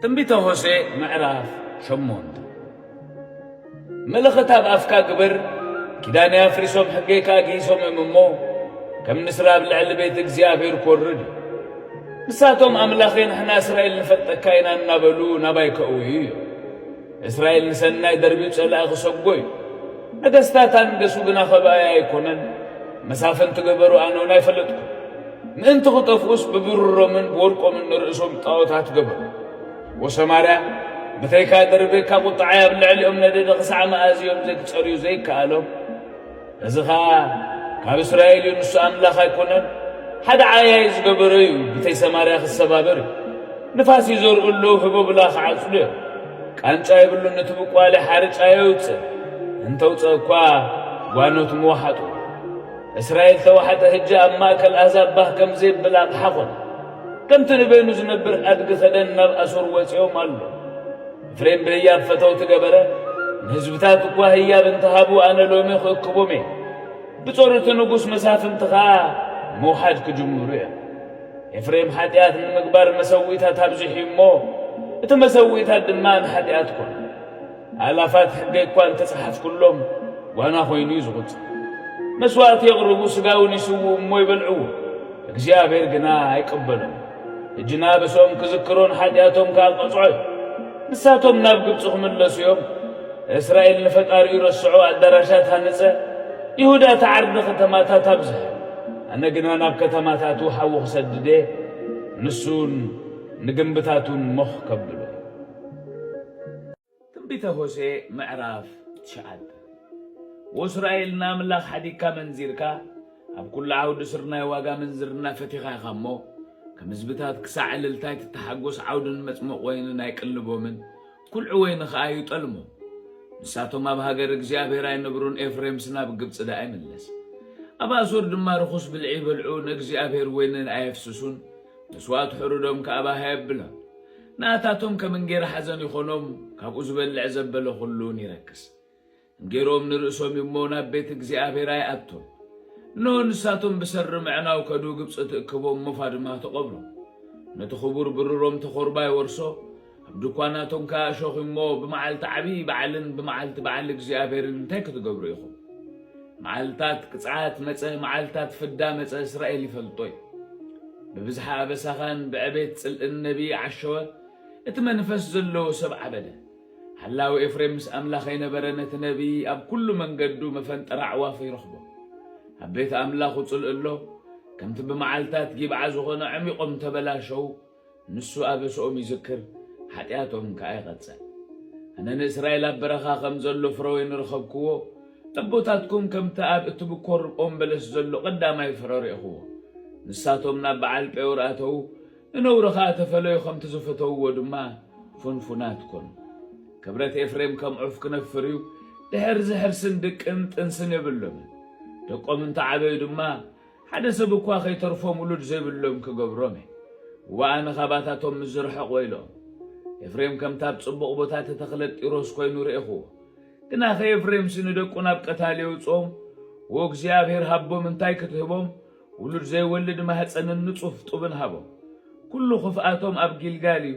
ትንቢተ ሆሴዕ ምዕራፍ ሸሞንተ ምልኽት ኣብ ኣፍካ ግብር ኪዳነይ ኣፍሪሶም ሕገይ ከኣ ግሂሶም እዮም እሞ ከም ንስራ ኣብ ልዕሊ ቤት እግዚኣብሔር ክወርድ እዩ ንሳቶም ኣምላኸይ ንሕና እስራኤል ንፈልጠካ ኢና እናበሉ ናባይ ከእውዩ እዮም እስራኤል ንሰናይ ደርቢ ጸላኢ ክሰጎ እዩ። ነገስታት ኣንገሱ ግና ከብኣይ ኣይኮነን መሳፍንቲ ገበሩ ኣነ እውን ኣይፈለጥኩን። ምእንቲ ክጠፍኡስ ብብሩሮምን ብወርቆምን ንርእሶም ጣዖታት ገበሩ። ወሰማርያ ብተይካ ደርቢ እካ ቁጥዓይ ኣብ ልዕሊኦም ነደደ ክሳዕ መኣዝ እዮም ዘይክጸርዩ ዘይከኣሎም። እዚ ኸኣ ካብ እስራኤል እዩ፣ ንሱ ኣምላኽ ኣይኰነን፣ ሓደ ዓያዪ ዝገበሮ እዩ፣ ብተይ ሰማርያ ኽሰባበር እዩ። ንፋስ ይዘርኡ ኣለዉ፣ ህቦብላ ኽዓጽዱ እዮም። ቃንጫ የብሉን፣ እቲ ብቋሊ ሓርጭ ኣየውጽእን፣ እንተ ኣውጽአ እኳ ጓኖት ምወሓጡ። እስራኤል ተዋሕጠ፣ ህጂ ኣብ ማእከል ኣህዛብ ባህ ከም ዜብል ኣቕሓ ዀነ። ከምቲ ንበይኑ ዝነብር ኣድጊ ኸደን ናብ ኣሶር ወጺኦም ኣሎ። ፍሬም በያብ ፈተውቲ ገበረ ንህዝብታት እኳ ህያብ እንተሃቡ ኣነ ሎሚ ክእክቦም እየ። ብጾርቲ ንጉስ መሳፍንቲ ኸኣ ምውሓድ ክጅምሩ እዮም። ኤፍሬም ሓጢኣት ንምግባር መሰዊእታት ኣብዚሑ እዩ እሞ እቲ መሰዊእታት ድማ ንሓጢኣት ኮነ። ኣእላፋት ሕገይ እኳ እንተጸሓፍኩሎም ጓና ኮይኑ እዩ ዝቝጸር። መስዋእቲ የቕርቡ፣ ስጋውን ይስውኡ እሞ ይበልዕዎ፣ እግዚኣብሔር ግና ኣይቅበሎምን። ሕጂ ናብሶም ክዝክሩን ሓጢኣቶም ከኣ ቅጽዖ እዩ። ንሳቶም ናብ ግብጺ ክምለሱ እዮም። እስራኤል ንፈጣሪኡ ረስዖ፣ ኣዳራሻት ሃንጸ፣ ይሁዳ ተዓርደ ከተማታት ኣብዝሐ። ኣነ ግና ናብ ከተማታቱ ሓዊ ክሰድድ እየ፣ ንሱውን ንግምብታቱን ሞኽ ከብሎ እዩ። ትንቢተ ሆሴዕ ምዕራፍ ትሽዓተ ወእስራኤል ንኣምላኽ ሓዲግካ መንዚርካ ኣብ ኩሉ ዓውዲ ስርናይ ዋጋ ምንዝርና ፈቲኻ ኢኻ እሞ ከም ህዝብታት ክሳዕ እልልታ ኣይትተሓጎስ ዓውዲ ንመጽምቕ ወይንን ኣይቅልቦምን ኩልዒ ወይኒ ኸኣ ኣይጠልሞ ንሳቶም ኣብ ሃገር እግዚኣብሔር ኣይነብሩን ኤፍሬምስ ናብ ግብጺ ደኣ ይምለስ ኣብ ኣሶር ድማ ርኹስ ብልዒ ይበልዑ ንእግዚኣብሔር ወይንን ኣየፍስሱን መስዋእቲ ሕሩዶም ከኣ ባህ ኣየብሎን ንኣታቶም ከም እንጌራ ሓዘን ይኾኖም፣ ካብኡ ዝበልዕ ዘበለ ዅሉን ይረክስ። እንጌርኦም ንርእሶም እዩ እሞ፣ ናብ ቤት እግዚኣብሄር ኣይኣቱን። እንሆ፣ ንሳቶም ብሰሪ ምዕናው ከዱ፣ ግብጺ ትእክቦም፣ ሞፋ ድማ ትቐብሮም። ነቲ ኽቡር ብሩሮም ተዀርባ ይወርሶ፣ ኣብ ድኳናቶም ከኣ እሾኽ እዩ እሞ፣ ብመዓልቲ ዓብዪ በዓልን ብመዓልቲ በዓል እግዚኣብሄርን እንታይ ክትገብሩ ኢኹም? መዓልታት ቅጽዓት መጸ፣ መዓልታት ፍዳ መጸ፣ እስራኤል ይፈልጦ እዩ። ብብዝሓ ኣበሳኻን ብዕቤት ጽልእን ነቢይ ዓሸወ፣ እቲ መንፈስ ዘለዎ ሰብ ዓበደ። ሓላዊ ኤፍሬም ምስ ኣምላኸይ ነበረ፣ ነቲ ነቢይ ኣብ ኩሉ መንገዱ መፈንጠራ ኣዕዋፍ ይረኽቦ። ኣብ ቤት ኣምላኹ ጽልእ ኣሎ፣ ከምቲ ብመዓልታት ጊብዓ ዝኾነ ዐሚቖም ተበላሸዉ። ንሱ ኣበስኦም ይዝክር፣ ሓጢኣቶም ከኣ ይቐጽዕ። ኣነ ንእስራኤል ኣብ በረኻ ኸም ዘሎ ፍረ ወይኒ ረኸብክዎ፣ ኣቦታትኩም ከምቲ ኣብ እትብኰር ኦም በለስ ዘሎ ቐዳማይ ፍረ ርኤኽዎ። ንሳቶም ናብ በዓል ጴኦር ኣተዉ፣ ንነውሪ ኸኣ ተፈለዩ፣ ኸምቲ ዝፈተውዎ ድማ ፍንፉናት ኰኑ። ክብረት ኤፍሬም ከም ዑፍ ክነፍር እዩ፣ ድሕርዚ ሕርስን ድቅን ጥንስን የብሎምን። ደቆም እንተ ዓበዩ ድማ፣ ሓደ ሰብ እኳ ኸይተርፎም ውሉድ ዘይብሎም ክገብሮም እየ፣ እወ፣ ኣነ ኻባታቶም ምስ ዝርሕቕ ወይለኦም። ኤፍሬም ከምቲ ኣብ ጽቡቕ ቦታ እተተኽለ ጢሮስ ኰይኑ ርኤኽዎ፣ ግናኸ ኤፍሬምሲ ንደቁ ናብ ቀታሊ የውጽኦም፣ እወ፣ እግዚኣብሄር ሃቦም እንታይ ክትህቦም፣ ውሉድ ዘይወልድ ማህጸንን ንጹፍ ጡብን ሃቦም። ኵሉ ኽፍኣቶም ኣብ ጊልጋል እዩ፣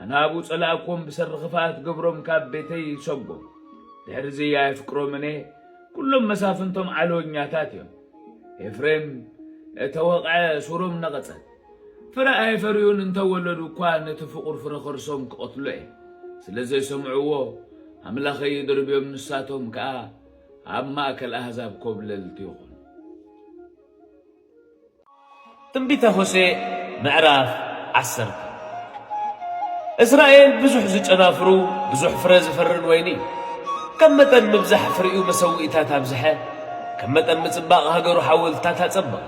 ኣናብኡ ጸላእክዎም ብሰሪ ክፍኣት ግብሮም ካብ ቤተይ ሰጎም። ድሕርዚ ኣየፍቅሮምን እየ፣ ኵሎም መሳፍንቶም ዓሎኛታት እዮም። ኤፍሬም እተ ወቕዐ፣ ሱሮም ነቐጸት። ፍረ ኣየፈርዩን፣ እንተ ወለዱ እኳ ነቲ ፍቑር ፍረ ኸርሶም ክቐትሎ እየ። ስለ ዘይሰምዕዎ፣ ኣምላኸይ ይድርብዮም፣ ንሳቶም ከኣ ኣብ ማእከል ኣህዛብ ኰብለልቲ ይዀኑ። ትንቢተ ሆሴዕ ምዕራፍ ዓሰርተ እስራኤል ብዙሕ ዝጨናፍሩ ብዙሕ ፍረ ዝፈርን ወይኒ እዩ። ከም መጠን ምብዛሕ ፍሪኡ መሰውኢታት ኣብዝሐ፣ ከም መጠን ምጽባቕ ሃገሩ ሓወልትታት ኣጸበቐ።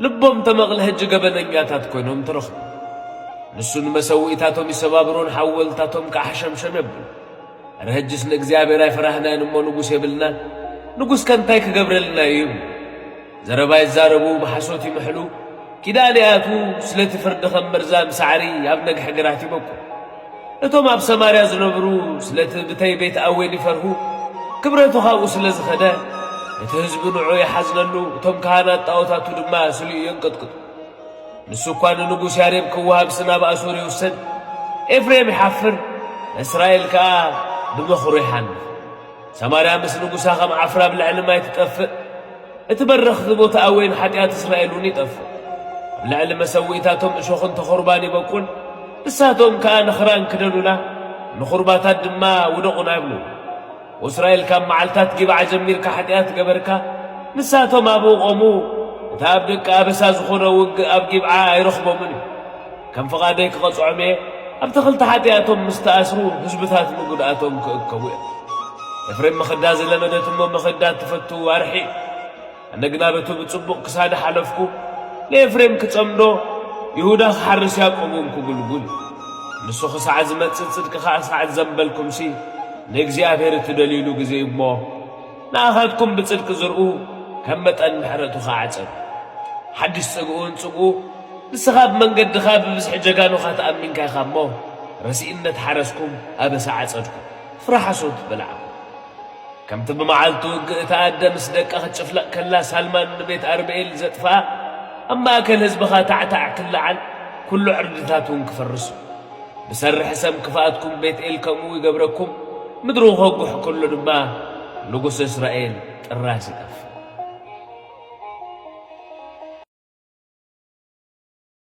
ልቦም ተመቕለ ህጂ ገበነኛታት ኮይኖም ተረኽቡ። ንሱ ንመሰውኢታቶም ይሰባብሮን ሓወልትታቶም ከኣ ሓሸምሸም የብሎ። ኣረ ሕጅስ ንእግዚኣብሔር ኣይፈራህናን እሞ ንጉስ የብልናን ንጉስ ከ እንታይ ክገብረልና እዩ ይብሉ ዘረባ ይዛረቡ ብሓሶት ይምሕሉ ኪዳን ይኣትዉ ስለቲ ፍርዲ ከም መርዛም ሳዕሪ ኣብ ነግሒ ግራት ይበቁ እቶም ኣብ ሰማርያ ዝነብሩ ስለቲ ብተይ ቤት ኣዌን ይፈርሁ ክብረቱ ካብኡ ስለ ዝኸደ እቲ ህዝቢ ንዑ ይሓዝነሉ እቶም ካህናት ጣዖታቱ ድማ ስሊኡ የንቅጥቅጡ ንሱ እኳ ንንጉስ ያሬብ ክወሃብሲ ናብ ኣሶር ይውሰድ፣ ኤፍሬም ይሓፍር፣ እስራኤል ከኣ ብመኽሩ ይሓንፍ። ሰማርያ ምስ ንጉሳ ከም ዓፍራ ኣብ ልዕሊ ማይ ትጠፍእ፣ እቲ በረኽቲ ቦታ ኣዌን ሓጢኣት እስራኤል እውን ይጠፍእ። ኣብ ልዕሊ መሰውኢታቶም እሾኽን ተኹርባን ይበቁል፣ ንሳቶም ከኣ ንኽራን ክደኑና፣ ንኹርባታት ድማ ውደቑና ይብሉ። እስራኤል ካብ መዓልታት ጊብዓ ጀሚርካ ሓጢኣት ገበርካ፣ ንሳቶም ኣብኡ ቆሙ፣ እቲ ኣብ ደቂ ኣበሳ ዝኾነ ውግእ ኣብ ጊብዓ ኣይረኽቦምን እዩ። ከም ፍቓደይ ክቐጽዖም እየ፣ ኣብቲ ክልተ ሓጢኣቶም ምስ ተኣስሩ ህዝብታት ንጉድኣቶም ክእከቡ እዮም። ኤፍሬም መኸዳ ዝለመደት እሞ መኸዳ እትፈቱ ዋርሒ እዩ። ኣነ ግና በቲ ብጽቡቕ ክሳዲ ሓለፍኩ፣ ንኤፍሬም ክጸምዶ፣ ይሁዳ ክሓርስ ያቆብውን ክጉልጉል። ንሱ ኽሳዕ ዝመጽእ ጽድቂ ኸኣ ስዓት ዘምበልኩምሲ፣ ንእግዚኣብሄር እትደልዩሉ ግዜ እዩ እሞ፣ ንኣኻትኩም ብጽድቂ ዝርኡ፣ ከም መጠን ምሕረቱ ኸኣ ኣዕጸዱ። ሓድሽ ጽግኡውን ጽግኡ፣ ንስኻ ብመንገድኻ ብብዝሒ ጀጋኑኻ ተኣሚንካ ኢኻ እሞ፣ ረሲእነት ሓረስኩም፣ ኣበሳ ዓጸድኩም፣ ፍረ ሓሶት በላዕኩም። ከምቲ ብመዓልቲ ውግእ እታ ኣደ ምስ ደቃ ክትጭፍለቕ ከላ ሳልማን ንቤት ኣርብኤል ዘጥፍኣ፣ ኣብ ማእከል ህዝብኻ ታዕታዕ ክለዓል፣ ኩሉ ዕርድታት እውን ክፈርሱ። ብሰርሒ ሰም ክፍኣትኩም ቤትኤል ከምኡ ይገብረኩም፣ ምድሩ ክኸጉሕ ከሎ ድማ ንጉስ እስራኤል ጥራስ ይጠፍእ።